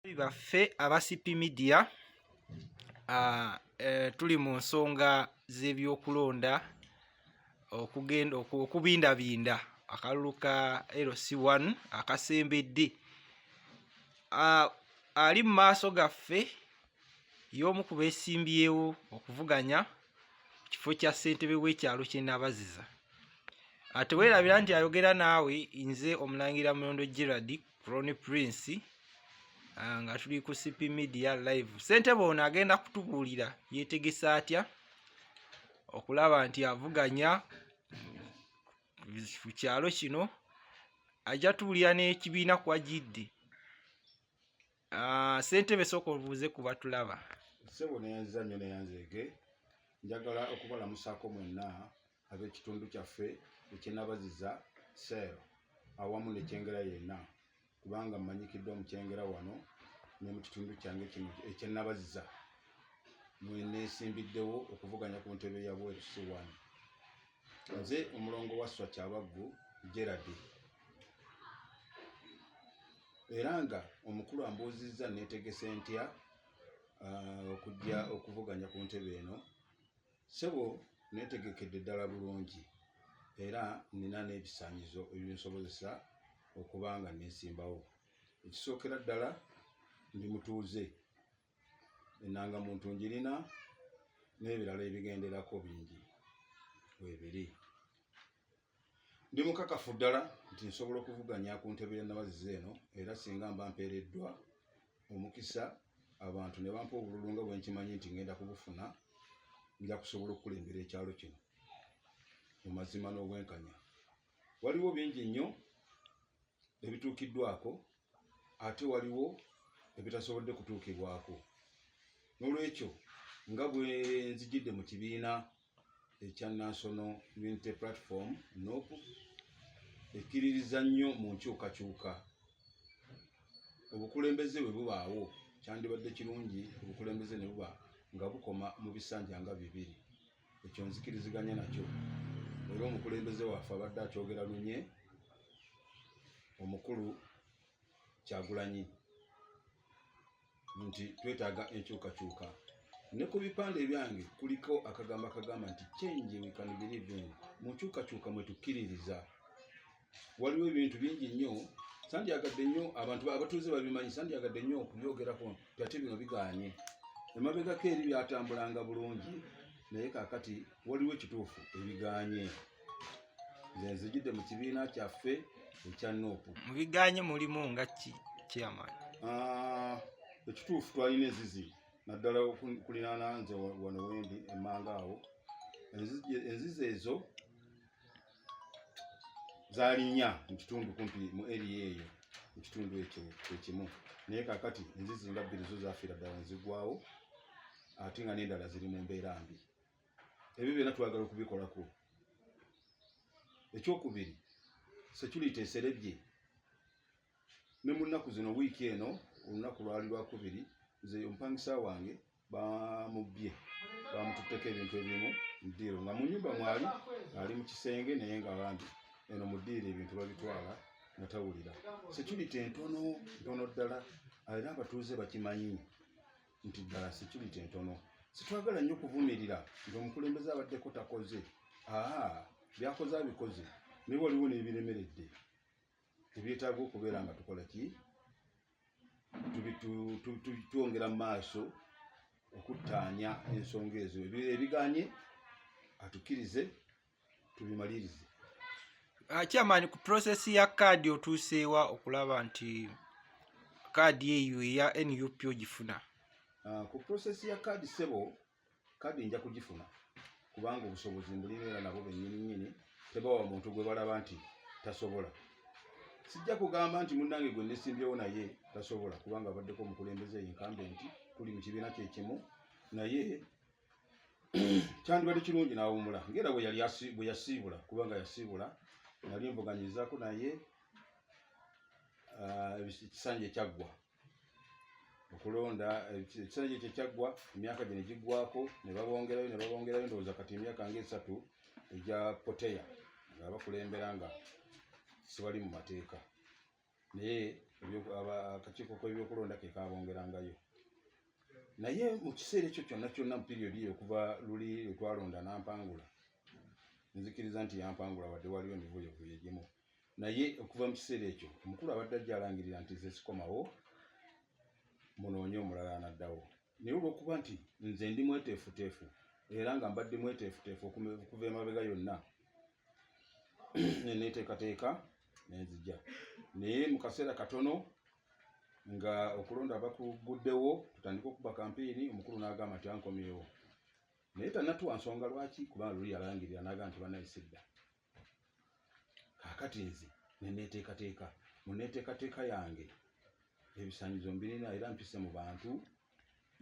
baffe aba CP Media uh, uh, tuli mu nsonga z'ebyokulonda okugenda okubindabinda akalulu ka LC1 akasembedde uh, ali mu maaso gaffe y'omu ku beesimbyewo okuvuganya ku kifo kya ssentebe w'ekyalo ky'e Nabaziza ateweerabira nti ayogera naawe nze omulangira mulondo gerard Ronnie Prince ah, nga tuli ku CP Media live. Ssentebe ono agenda kutubuulira yeetegese atya okulaba nti avuganya ku kyalo kino ajja tubuulira n'ekibiina kwajidde Ah, ssentebe sooka obuuze ku batulaba ssebo neyanziza nnyo neyanzeege njagala okubalamusaako mwenna ab'ekitundu kyaffe ekyenabaziza sel awamu nekyengera yenna kubanga mmanyikiddwa mu kyengera wano ne mu kitundu kyange kino ekyenabaziza mweneesimbiddewo okuvuganya ku ntebe ya bwerusi wano nze omulongo wa swa kyabaggu geradi era nga omukulu ambuuzizza netegese ntya ah, okujja okuvuganya ku ntebe eno sebo netegekedde ddala bulungi era nina n'ebisanyizo ebinsobozesa okuba nga nesimbawo ekisookera ddala ndi mutuuze enanga muntu njirina n'ebirala ebigenderako bingi webiri ndi mukakafu ddala nti nsobola okuvuganya ku ntebe ya nabaziza eno era singa mba mpeereddwa omukisa abantu ne bampa obululu nga bwenkimanyi nti ngenda kubufuna nja kusobola okukulembera ekyalo kino mu mazima n'obwenkanya waliwo bingi nnyo ebituukiddwako ate waliwo ebitasobodde kutuukibwako n'olwekyo nga bwe nzijidde mu kibiina ekya national unity platform nop ekkiririza nnyo mu nkyukakyuka obukulembeze bwe bubaawo kyandibadde kirungi obukulembeze ne buba nga bukoma mu bisanja nga bibiri ekyo nzikiriziganya nakyo era omukulembeze waffe abadde akyogera lunye omukulu kyagulanyi nti twetaaga enkyukakyuka ne ku bipande ebyange kuliko akagambo akagamba nti change we can believe in mu nkyukakyuka mwe tukkiririza waliwo ebintu bingi nnyo sandyagadde nnyo abantu abatuuze babimanyi sandyagadde nnyo okubyogerako ate bino bigaanye emabegako eri byatambulanga bulungi naye kakati waliwo ekituufu ebigaanye nze nzijidde mu kibiina kyaffe ekya noopu mu bigaanye mulimu nga ki chairman ah, ekituufu twalina ezizi naddala okulinaana nze wano wendi emmanga awo enzizi ezo zaali nnya mu kitundu kumpi mu eriya eyo mu kitundu ekyo ekimu naye kakati enzizi nga bbiri zo zafiira ddala nezigwawo ate nga n'endala ziri mu mbeera mbi ebyo byonna twagala okubikolako ekyokubiri security eserebye ne mu nnaku zino wiiki eno olunaku lwali lwakubiri nze omupangisa wange bamubbye bamututteko ebintu ebimu mudiiro nga munyumba mwali ali mu kisenge naye nga bambi eno mudiiro ebintu babitwala nga tawulira security entono ntono ddala era abatuuze bakimanyi nti ddala security entono sitwagala nnyo kuvumirira nti omukulembeze abaddeko takoze aa byakoze abikoze naye waliwo nebiremeredde ebyetaaga okubeera nga tukola ki twongera mu maaso okuttaanya ensonga ezo ebiganye atukirize tubimalirize chairman ku process ya kaadi otuuseewa okulaba nti kaadi eyo eya nup ogifuna ah, ku process ya kaadi sebo kadi nja kugifuna kubanga obusobozi mbulina era nabo bennyini nnyini tebawa muntu gwe balaba nti tasobola sijja kugamba nti munnange gwe nesimbyewo naye tasobola kubanga abaddeko omukulembeze yenkambe nti tuli mu kibiina kyekimu naye kyandibadde kirungi n'awumula ngaera bwe yasiibula kubanga yasiibula nali mbuganyizaako naye ah, ekisanja ekyaggwa okulonda ekiseera kye kyekyaggwa emyaka gino giggwako ne babongerayo ne babongerayo ndowooza kati emyaka ngaesatu egya poteya nga bakulembera nga sibali mu mateeka naye akakiiko kebyokulonda kekabongerangayo naye mu kiseera ekyo kyonna kyonna mu piriyodi eyo okuva luli lwetwalonda nampangula nzikiriza nti yampangula wadde waliwo emivuyovuyo egimu naye okuva mu kiseera ekyo omukulu abadde ajja alangirira nti nze sikomawo munoonye omulala anaddawo naye olwokuba nti nze ndi mweteefuteefu era nga mbadde mweteefuteefu okuva emabega yonna neneteekateeka nenzija naye mu kaseera katono nga okulonda bakuguddewo tutandika okuba kampeeni omukulu n'agamba nti ankomyewo naye tanatuwa nsonga lwaki kubanga luli yalangirira n'agamba nti banayisidda kakati nze neneteekateeka muneteekateeka yange ebisanyizo mbirina era mpise mu bantu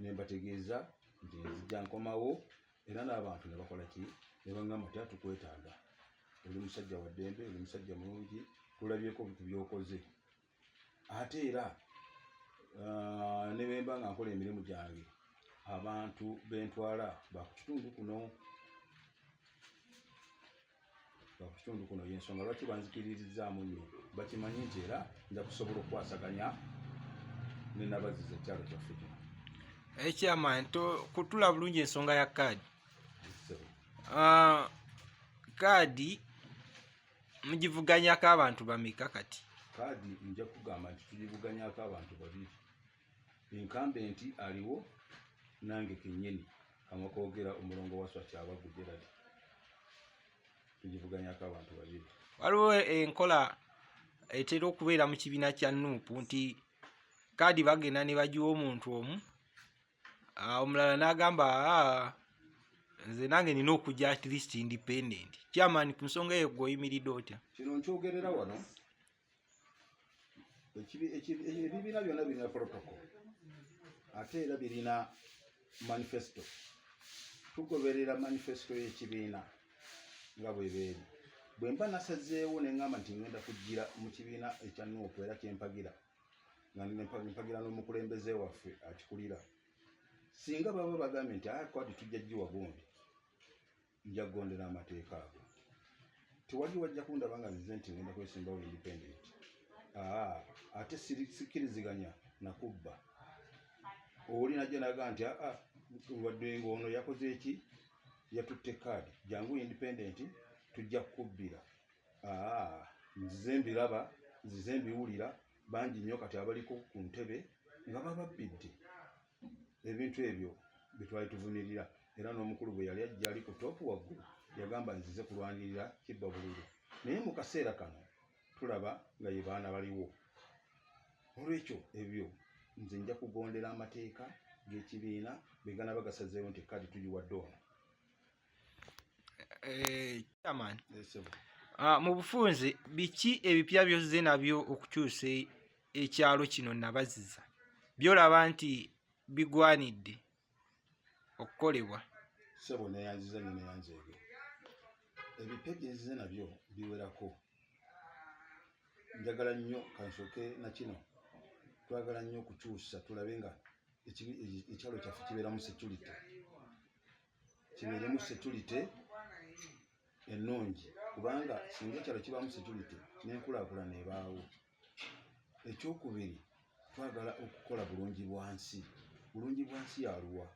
nembategeeza nti nzija nkomawo era n'abantu nebakola ki nebagamba ti atukwetaaga oli musajja waddembe oli musajja mulungi tulabyeko bintu byokoze ate era uh, ne bemba nga nkola emirimu gyange abantu bentwala bakukitundu kuno bakukitundu kuno yensonga lwaki banzikiririzaamu nnyo bakimanyi nti era nja kusobola okukwasaganya nenabaziza ekyalo kyaffe kino ekyama eh, nto kutula bulungi ensonga ya kaadi kaadi ah, mugivuganyako abantu bameka kati kaadi nja kugamba nti tugivuganyako abantu babiri enkambe nti aliwo nange kenyini amakogera omulongo waswa kyabagu gerad tugivuganyako abantu babiri waliwo enkola etera okubeera mu kibiina kya nuupu nti kaadi bagenda ne bagiwa omuntu omu ah, omulala n'agamba ah, nze nange nina okujja at least independent chairman ku nsonga eyo gweoyimiridde otya kino nkyogerera wano ebibiina byonna birina protocol ate era birina manifesto tugoberera manifesto y'ekibiina nga bwebeeri bwe mba nasazeewo ne ŋŋamba nti ŋŋenda kujjira mu kibiina ekya nuupu era kyempagira mpagira n'omukulembeze waffe akikulira singa baba bagambye nti aya ah, kwadi tujja giwa gundi nja kugondera amateeka ago tewali wajja kundaba nga zize nti ngenda kwesimbawo independent ah, ate sikkiriziganya nakubba oli najja naga nti aa ah, wadde nga ono yakoze eki yatutte kaadi jangu independent tujja kukubbira Aa, nzize mbiraba, nzize mbiwulira, bangi nnyo kati abaliko ku ntebe nga bababbidde ebintu ebyo bye twali tuvumirira. Era n'omukulu bwe yali ajja ali ku toopu waggulu, yagamba, Nzize kulwanirira kibba bululu. Naye mu kaseera kano tulaba nga ye baana baliwo. N'olwekyo, ebyo, nze nja kugondera amateeka g'ekibiina bwe ganaba gasazeewo nti kaadi tugiwadde ono. Eh, ah, mu bufunze biki ebipya byozze nabyo okukyusa e, ekyalo kino nabaziza byolaba nti bigwanidde okukolebwa sebo neyanziza nyo neyanzeege ebipya byezze nabyo biwerako njagala nnyo kansoke nakino twagala nnyo okukyusa tulabe nga ekyalo kyaffe kibeeramu security kibeeremu security ennungi kubanga singa ekyalo kibaamu security n'enkulaakulana ebaawo ekyokubiri twagala okukola bulungi bwansi bulungi bwansi yaluwa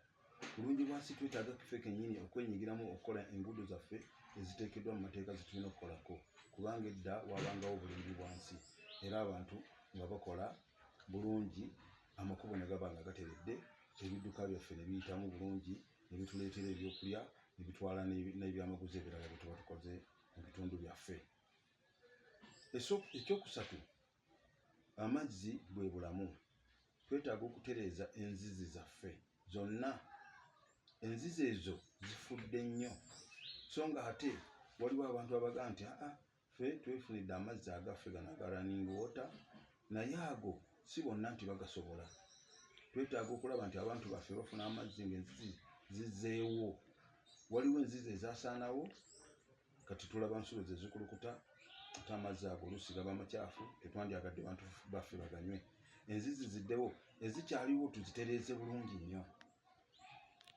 bulungi bwansi twetaaga kife kenyini okwenyigiramu okukola enguudo zaffe eziteekeddwa mu mateeka zetulina okukolako kubanga edda wabangawo bulungi bwansi era abantu nga bakola bulungi amakubo ne gaba nga gateredde ebidduka byaffe ne biyitamu bulungi ne bituleetera ebyokulya ne bitwala n'ebyamaguzi ebirala bye tuba tukoze mu bitundu byaffe ekyokusatu amazzi bwe bulamu twetaaga okutereeza enzizi zaffe zonna enzizi ezo zifudde nnyo so nga ate waliwo abantu abaga nti aa ffe twefunidde amazzi agaffe gano aga running water naye ago si bonna nti bagasobola twetaaga okulaba nti abantu baffe bafuna amazzi ngaenzizi zizeewo waliwo enzizi ezasaanawo kati tulaba nsulo zezikulukuta ate amazzi ago oluusi gaba macaafu tetwandyagadde bantu baffe baganywe enzizi ziddewo ezikyaliwo tuzitereeze bulungi nnyo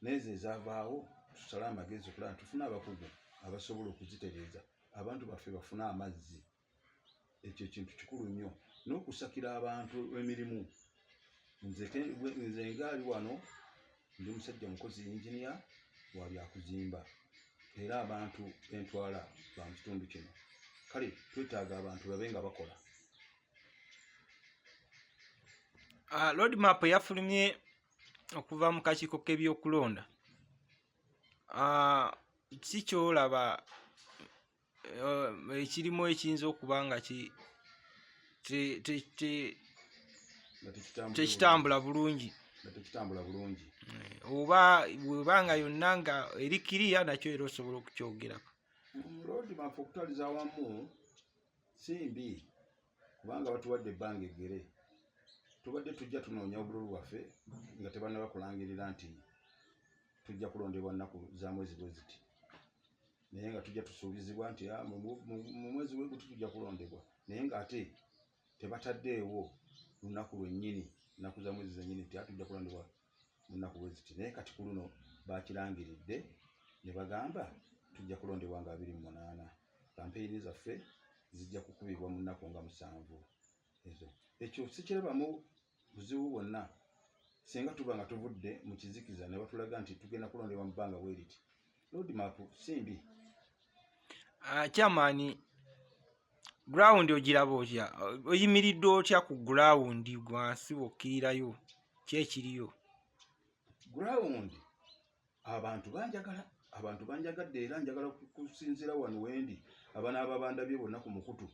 neezo ezavaawo tusale amagezi okulaba ntufuna abakugu abasobola okuzitereeza abantu baffe bafune amazzi ekyo ekintu kikulu nnyo n'okusakira abantu emirimu nze ngaali wano ndi musajja mukozi yinginiya wa byakuzimba era abantu bentwala ba mu kitundu kino kale twetaaga abantu babe nga bakola ah, lord map yafulumye okuva mu kakiiko k'ebyokulonda ah, si kyolaba eh, ekirimu ekiyinza okuba nga tekitambula bulungi tekitambula bulungi eh, oba webanga yonna nga eri kiriya nakyo era osobola okukyogerako mm, lodi mafe okutaliza wamu simbi kubanga batuwadde ebbanga eggere tubadde tujja tunoonya obululu bwaffe nga tebanaba kulangirira nti tujja kulondebwa nnaku za mwezi bwe ziti naye nga tujja tusuubizibwa nti ah, mu mwezi we guti tujja kulondebwa naye ng'ate tebataddeewo lunaku lwennyini nnaku za mwezi zennyini nti atujja ah, kulondebwa munaku bweziti naye kati ku luno bakirangiridde ne bagamba tujja kulondebwa nga abiri mu munaana kampeyini zaffe zijja kukubibwa mu nnaku nga musanvu ezo ekyo sikirabamu buzibu bwonna singa tuba nga tuvudde mu kizikiza ne batulaga nti tugenda kulondebwa mu bbanga bweriti Roadmap simbi. Ah, chairman ground ogiraba otya? Oyimiridde otya ku ground gwansi wokkirirayo ki ekiriyo? Ground abantu banjagala abantu banjagadde era njagala kusinzira wano wendi abanaaba bandabye bonna ku mukutu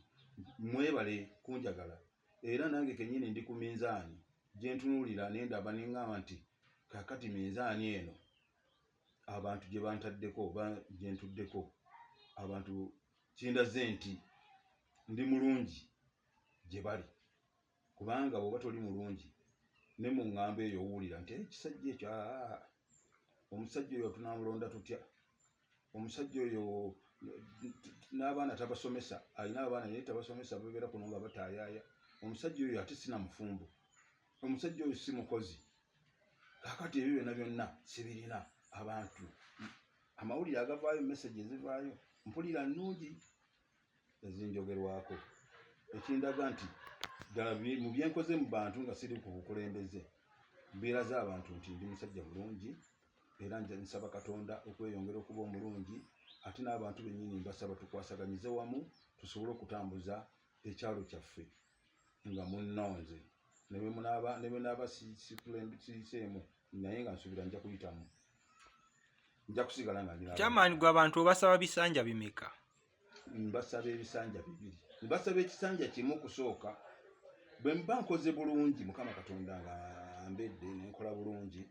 mwebale kunjagala era nange kenyini ndi ku minzaani gyentunuulira nendaba nengamba nti kakati minzaani eno abantu gye bantaddeko oba gye ntuddeko abantu kindaze nti ndi mulungi gye bali kubanga bwoba toli mulungi ne mu ŋŋambo eyo owulira nti eh, ekisajja ekyo ah, omusajja oyo tunamulonda tutya omusajja oyo n'abaana tabasomesa alina abaana naye tabasomesa babeera kuno nga bataayaaya omusajja oyo ate sinamufumbo omusajja oyo si mukozi kakati ebyo byonna byonna sibirina abantu amawulire agavaayo message ezivaayo mpulira nnungi ezinjogerwako ekindaga nti ddala mu byenkoze mu bantu nga siri ku bukulembeze mbeera z'abantu nti ndi musajja mulungi era nja nsaba katonda okweyongera okuba omulungi ate n'abantu bennyini mbasaba tukwasaganyize wamu tusobole okutambuza ekyalo kyaffe nga munnonze ne bwe munaaba ne bwe naaba sikulembisiiseemu naye nga nsuubira nja kuyitamu nja kusigala nga ndi kyamaanyi gwe abantu obasaba bisanja bimeka mbasaba ebisanja bibiri mbasaba ekisanja kimu kusooka bwe mba nkoze bulungi mukama katonda nga ambedde nenkola bulungi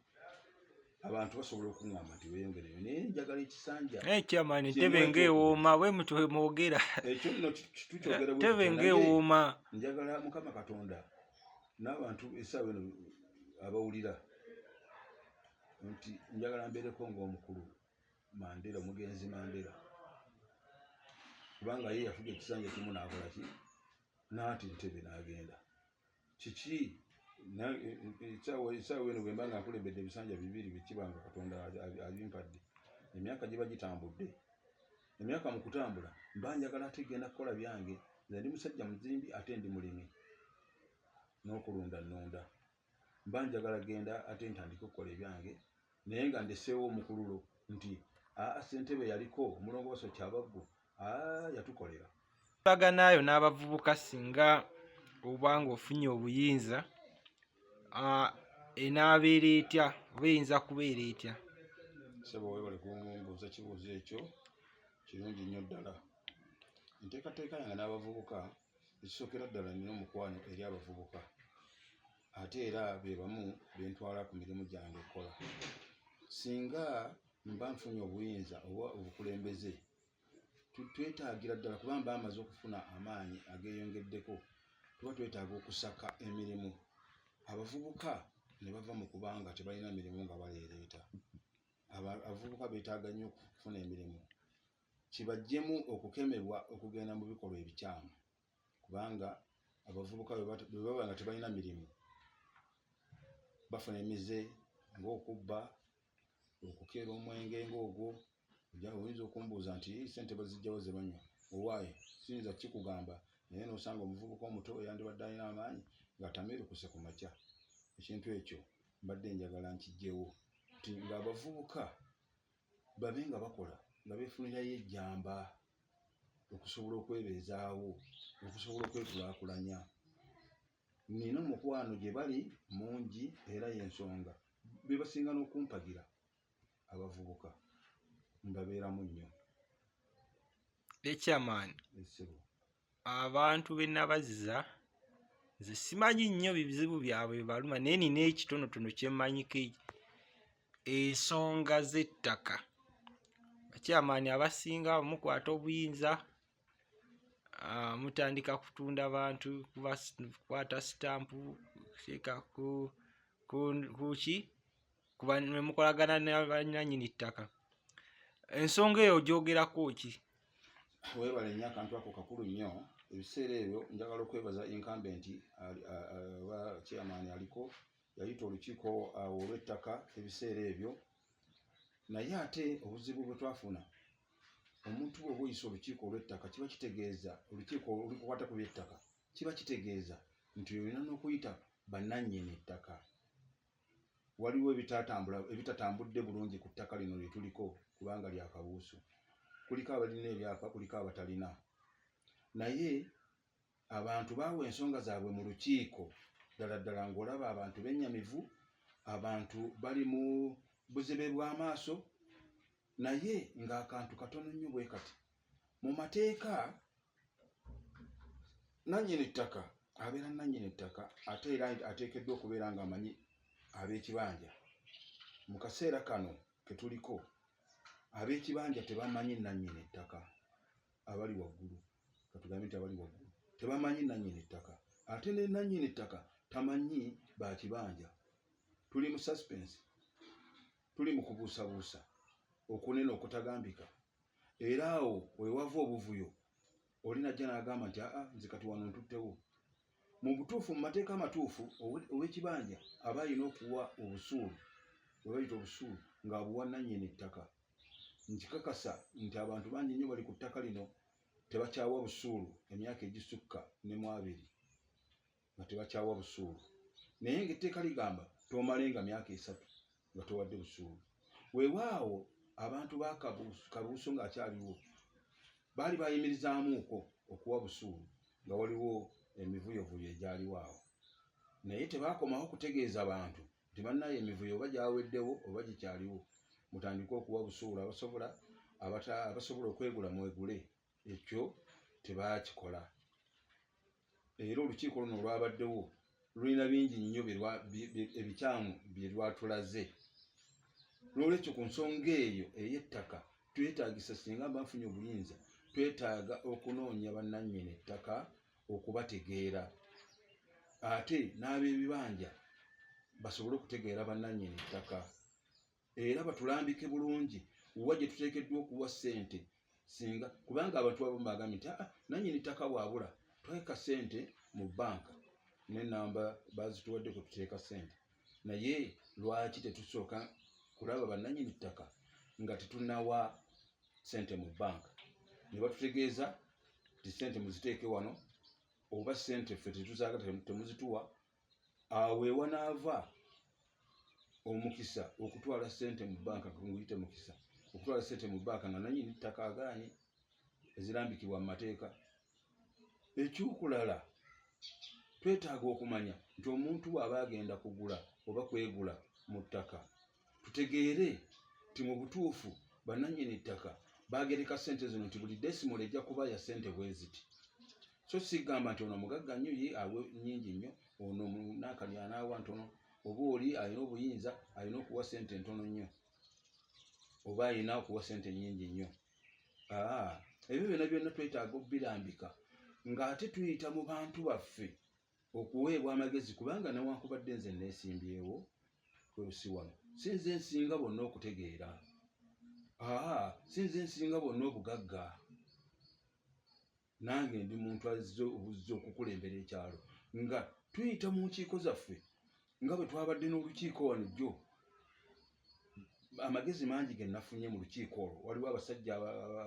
abantu basobola okuŋŋamba nti weeyongereyo naye njagala ekisanja ekyamaani eh, ntebe ng'ewooma bwe mutwe mwogera ekyo nno tukyogera ntebe ng'ewooma njagala mukama katonda n'abantu esaawa eno abawulira nti njagala mbeereko ng'omukulu mandera omugenzi mandera kubanga ye yafuga ekisanja kimu n'akola ki n'ati ntebe n'agenda kiki ekisaawa eno bwemba nga nkulembedde ebisanja bibiri bikibanga katonda abimpadde emyaka giba gitambudde emyaka mu kutambula mba njagala ate genda kukola byange nze ndi musajja muzimbi ate ndi mulimi n'okulunda nnunda mba njagala genda ate ntandike okukola ebyange naye nga ndeseewo omukululo nti aa ssentebe yaliko omulongooso kyabaggu aa yatukolera baganaayo n'abavubuka singa oba ng'ofunye obuyinza enaabeera etya oba eyinza kubeera etya sebo webale kumbuuza kibuuzo ekyo kirungi nnyo ddala enteekateeka yange n'abavubuka ekisookera ddala nina omukwano eri abavubuka ate era be bamu be ntwala ku mirimu gyange okukola singa mba nfunye obuyinza oba obukulembeze twetaagira ddala kuba mba amaze okufuna amaanyi ageeyongeddeko tuba twetaaga okusaka emirimu abavubuka ne bava mu kuba nga tebalina mirimu nga baleereeta abavubuka beetaaga nnyo okufuna emirimu kibajjemu okukemebwa okugenda mu bikolwa ebikyamu kubanga abavubuka bwe baba nga tebalina mirimu bafuna emize ng'okubba okukeera omwenge ng'ogwo oyinza okumbuuza nti sente bazijjawo ze banywa owaayi siyinza kikugamba naye n'osanga omuvubuka omuto yandibadde alina amaanyi ng'atamiirukuse ku makya ekintu ekyo mbadde njagala nkijjewo nti ng'abavubuka babe nga bakola nga befunirayo ejjamba okusobola okwebeezaawo okusobola okwekulakulanya nina omukwano gye bali mungi era yensonga bebasinga n'okumpagira abavubuka mbabeeramu nnyo ekyamaani abantu be nabaziza nze simanyi nnyo bizibu byabwe bibaluma naye nina ekitonotono kyemmanyiko ensonga z'ettaka bakyamaani abasinga mukwata obuyinza ah, mutandika kutunda bantu kukwata sitampu kuki kuba ne mukolagana ne banyanyini ttaka ensonga eyo ogyogerako ki webale nnyo akantu ako kakulu nnyo ebiseera ebyo njagala okwebaza incumbent oba chairman aliko yayita olukiiko awo olw'ettaka ebiseera ebyo naye ate obuzibu bwe twafuna omuntu bwoba oyisa olukiiko olw'ettaka kiba kitegeeza olukiiko olukukwata ku by'ettaka kiba kitegeeza nti olina n'okuyita bannannyini ttaka waliwo ebitatambula ebitatambudde bulungi ku ttaka lino lye tuliko kubanga lya kabuusu kuliko abalina ebyapa kuliko abatalina naye abantu baawa ensonga zaabwe mu lukiiko ddala ddala ng'olaba abantu bennyamivu abantu bali mu buzibe bw'amaaso naye ng'akantu katono nnyo bwe kati mu mateeka nannyini ttaka abeera nannyini ettaka ate era ateekeddwa okubeera ng'amanyi ab'ekibanja mu kaseera kano ke tuliko ab'ekibanja tebamanyi nannyini ettaka abali waggulu katugambe nti abali waggulu tebamanyi nannyini ttaka ate ne nannyini ttaka tamanyi bakibanja tuli mu suspense tuli mu kubuusabuusa okunene okutagambika era awo wewava obuvuyo oli najja n'agamba nti aa nze kati wano ntuttewo mu butuufu mu mateeka amatuufu ow'ekibanja aba alina okuwa obusuulu bwe bayita obusuulu ng'abuwa nannyini ttaka nkikakasa nti abantu bangi nnyo bali ku ttaka lino tebakyawa busuulu emyaka egisukka ne mu abiri nga tebakyawa busuulu naye ngaetteeka ligamba tomale nga myaka esatu nga towadde busuulu wewaawo abantu bakabuuso ngaakyaliwo baali bayimirizaamuuko okuwa busuulu nga waliwo emivuyovuyo egyaliwo awo naye tebakomawo kutegeeza bantu nti bannaye emivuyo oba gyaweddewo oba gikyaliwo mutandike okuwa busuulu abasobola abasobola okwegula mwegule ekyo tebaakikola era olukiiko luno olwabaddewo lulina bingi nnyo ebikyamu bye lwatulaze n'olwekyo ku nsonga eyo ey'ettaka twetagisa singa mba nfunye obuyinza twetaaga okunoonya bannannyini ettaka okubategeera ate n'ab'ebibanja basobole okutegeera bannannyini ettaka era batulambike bulungi wa gye tuteekeddwa okuwa ssente singa kubanga abantu abamu bagambye nti aa ah, nanyini ttaka bwabula tweka ssente mu bbanka nenamba bazituwadde kwe tuteeka ssente naye lwaki tetusooka kulaba bannanyini ttaka nga tetunawa ssente mu bbanka ne batutegeeza nti ssente muziteeke wano oba ssente ffe tetuzaagala temuzituwa awo wewanaava omukisa okutwala sente mu banka nguyite mukisa okutwala sente mu banka nga nanyini ttaka agaanye ezirambikibwa mu mateeka ekyokulala twetaaga okumanya nti omuntu waaba agenda kugula oba kwegula mu ttaka tutegeere nti mu butuufu bannannyini ttaka baagereka ssente zino nti buli desimolo ejja kuba ya ssente bwe ziti so sigamba nti ono mugagga nnyo ye awe nnyingi nnyo ono munaakalya anaawa ntono oba oli alina obuyinza alina okuwa ssente ntono nnyo oba alina okuwa ssente nnyingi nnyo ebyo byonna byonna twetaaga obbirambika ng'ate tuyita mu bantu baffe okuweebwa amagezi kubanga newankubadde nze neesimbyewo kweusi wano sinze nsinga bonna okutegeera aa sinze nsinga bonna obugagga nange ndi muntu azze obuzze okukulembera ekyalo nga tuyita mu nkiiko zaffe nga bwe twabadde n'olukiiko wano jjo amagezi mangi ge nafunye mu lukiiko olwo waliwo abasajja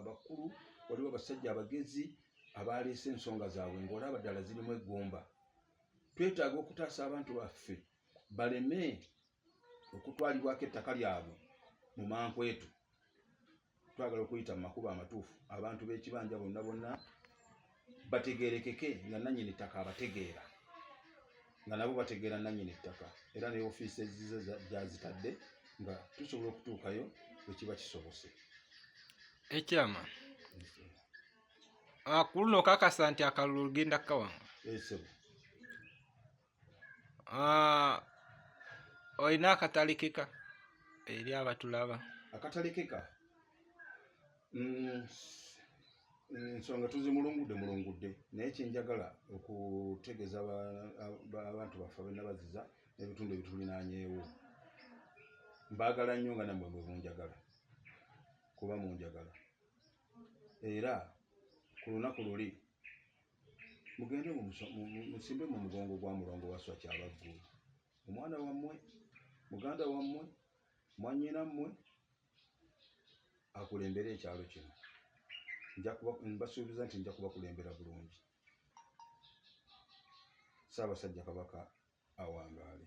abakulu waliwo abasajja abagezi abaaleese ensonga zaabwe ng'olaba ddala zirimu eggumba twetaaga okutaasa abantu baffe baleme okutwalibwako ettaka lyabwe mu mankwetu twagala okuyita mu makubo amatuufu abantu b'ekibanja bonna bonna bategerekeke nga nanyini ttaka abategeera nga nabo bategeera nanyini ttaka era ne ofiisi ezize gyazitadde nga tusobola okutuukayo bwekiba kisobose ekyama akulu ah, nokakasa nti akalulu lugenda kukawanga eh, Ah, olina akatalikika eri abatulaba akatalikika mm, nsonga tuzimulungudde mulungudde naye kyenjagala okutegeeza abantu baffe abenabaziza n'ebitundu ebitulinanyeewo mbaagala nnyo nga namwe mwe munjagala kuba munjagala era ku lunaku luli mugende musimbe mu mugongo gwa mulongo waswa kyabaggulu omwana wammwe muganda wammwe mwanyina mmwe akulembere ekyalo kino mbasuubiza nti nja kubakulembera bulungi saabasajja kabaka awangaale